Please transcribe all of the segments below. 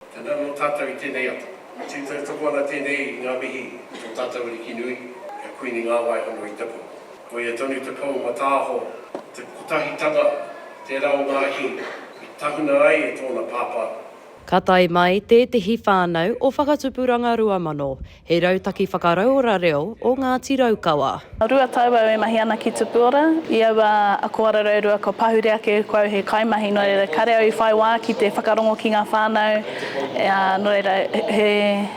Tēnā nō tātou i tēnei ata. Me tū tautoko ana tēnei i ngā mihi ki tō tātou Ariki nui, ki a Kuini Ngāwai hono i taku. Koia tonu te pou mataaho, te kotahitanga, tērā o Ngāhi i tahuna ai e tōna Pāpā. Ka tae mai tētehi whānau o Whakatupuranga Ruamano He rautaki whakarauora reo o Ngāti Raukawa. Rua tau au e mahi ana ki Tupuora. I aua ako arareorua kua pahure ake ko au he kaimahi, nō reira kāre au i whai wā ki te whakarongo ki ngā whānau, ā, nō reira he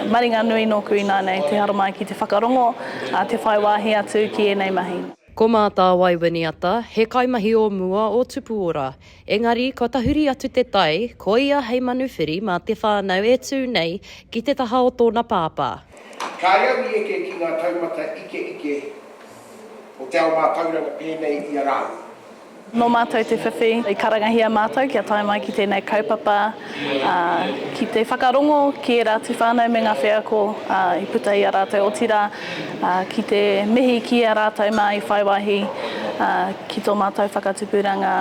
maringa nui nōku ināianei te haramai ki te whakarongo, ā, te whai wāhi atu ki ēnei mahi. Ko Mātāwai Winiata, he kaimahi o mua o Tupuora. Engari, kua tahuri atu te tai, koia hei manu whiri mā te whānau e tū nei ki te taha o tōna pāpā. Kāi au i eke ki ngā taumata ikeike o te ao mātauranga pēnei i a rāua. Nō mātou te whiwhi, i karangahia mātou kia tae mai ki tēnei kaupapa, ā, ki te whakarongo ki ērā atu whānau me ngā wheako, ā, i puta i a rātou, otirā, ki te mihi ki a rātou mā i whai wāhi ki tō mātou whakatupuranga,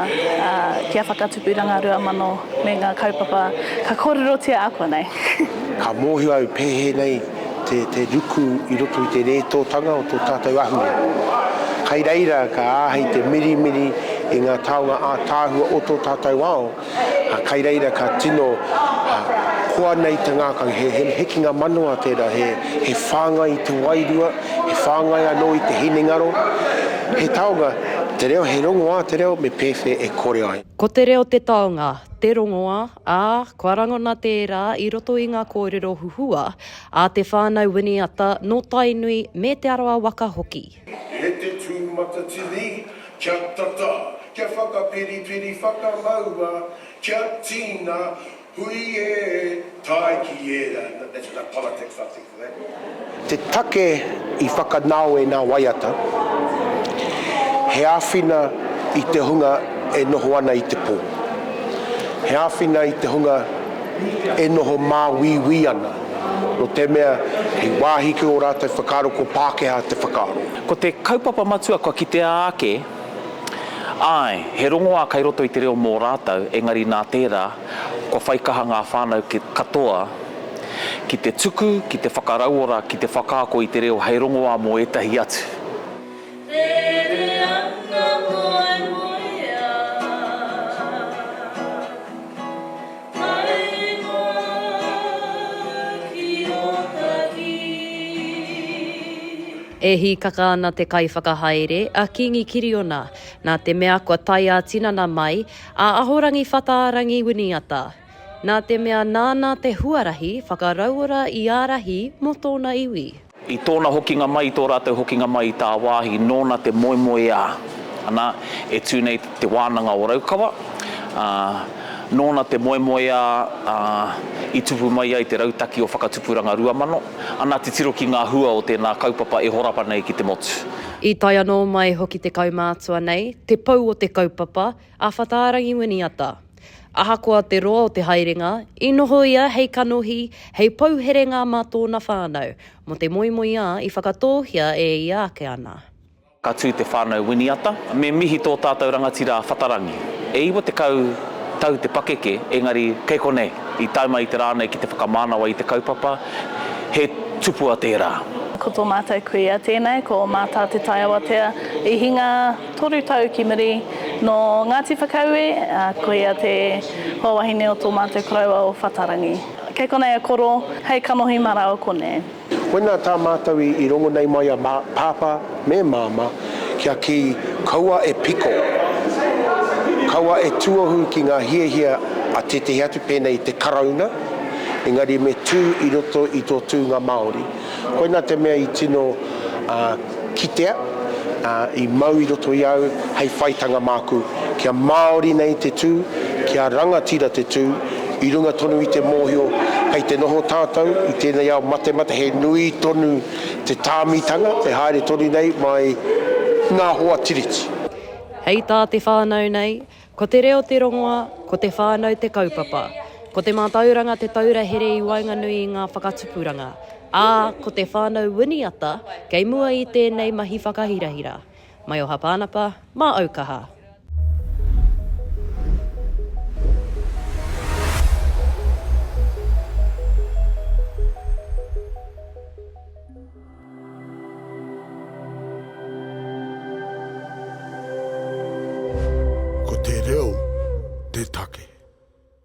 ki a Whakatupuranga Rua Mano me ngā kaupapa ka kōrerotia ākuanei. Ka mōhio au pēhēnei te ruku i roto i te rētōtanga o tō tātou ahure. Kai reira ka āhei te mirimiri i ngā taonga ātaahua o tō tātou ao, A kai reira ka tino koa nei te ngakau, he hekinga manawa tera, he whangai i te wairua, he whangai ano i te hinengaro, he taonga, te reo, he rongoa te reo me pewhe e kore ai. Ko te reo te taonga, te rongoa, a, kua rangona tera i roto i nga korero huhua a te whanau Winiata no Tainui me Te Arawa waka hoki. E te tū matatini, kia tata, kia whakaperiperi whakamaua, kia tīna, hui e, tae ki ērā, that's enough politics I think for that. Te take i whakanao e nā waiata, he āwhina i te hunga e noho ana i te pō, he āwhina i te hunga e noho māuiui ana. Notemea he wāhi ki ō rātou whakaaro ko Pākehā te whakaaro. Ko te kaupapa matua kua kitea ake, āe, he rongoā kei roto i te reo mō rātou, engari nā tērā, kua whai kaha ngā whānau katoa ki te tuku, ki te whakarauora, ki te whakaako i te reo hei rongoā mō ētahi atu. Haere mā ki Ōtahi. E hīkaka ana te kaiwhakahaere, a Kīngi Kiriona, nā te mea kua tae ā-tinana mai a Ahorangi Whataarangi Winiata. Nā te mea nāna te huarahi whakarauora i ārahi mō tōna iwi. I tōna hokinga mai, i tō rātou hokinga mai i tāwāhi, nōna te moemoeā, ana, e tū nei Te Wānanga o Raukawa, ā, nōna te moemoeā, ā, i tupu mai ai te rautaki o Whakatupuranga Ruamano, ana, titiro ki ngā hua o tēnā kaupapa e horapa nei ki te motu. I tae anō mai hoki te kaumātua nei, te pou o te kaupapa, A Whataarangi Winiata. Ahakoa te roa o te haerenga, i noho ia hei kanohi, hei pou herenga mā tōna whānau, mō te moemoeā i whakatōhia e ia ake ana. Ka tū te whānau Winiata, me mihi tō tātou rangatira a Whatarangi. E iwa tekau tau te pakeke, engari kei konei, i tae mai i te rā nei ki te whakamānawa i te kaupapa, he tupua tērā. Ko tō mātou kuia tēnei, ko Mātā Te Taiawatea i hinga. Toru tau ki muri, nō Ngāti Whakaue, ā, koia te hoa wahine o tō mātou koroua o Whatarangi. Kei konei a Koro, hei kanohi mara o konei. Koinā tā mātou i rongo nei mai a Pāpā me Māmā kia kī, kaua e piko, kaua e tuohu ki ngā hiahia a tētehi atu pēnei i te Karauna, engari me tū i roto i tō tūnga Māori. Koina te mea i tino kitea, i mau i roto i au hei whaitanga māku, kia Māori nei te tū, kia rangatira te tū, i runga tonu i te mōhio kei te noho tātou i tēnei ao matemate he nui tonu te tāmitanga e haere tonu nei mai ngā hoa Tiriti. Hei tā te whānau nei, Ko te reo te rongoa, ko te whānau te kaupapa, ko te mātauranga te taura here i waenganui i ngā whakatupuranga, ā, ko te whānau winiata kei mua i tēnei mahi whakahirahira. Maioha Pānapa, mā au kaha. Ko te reo te take.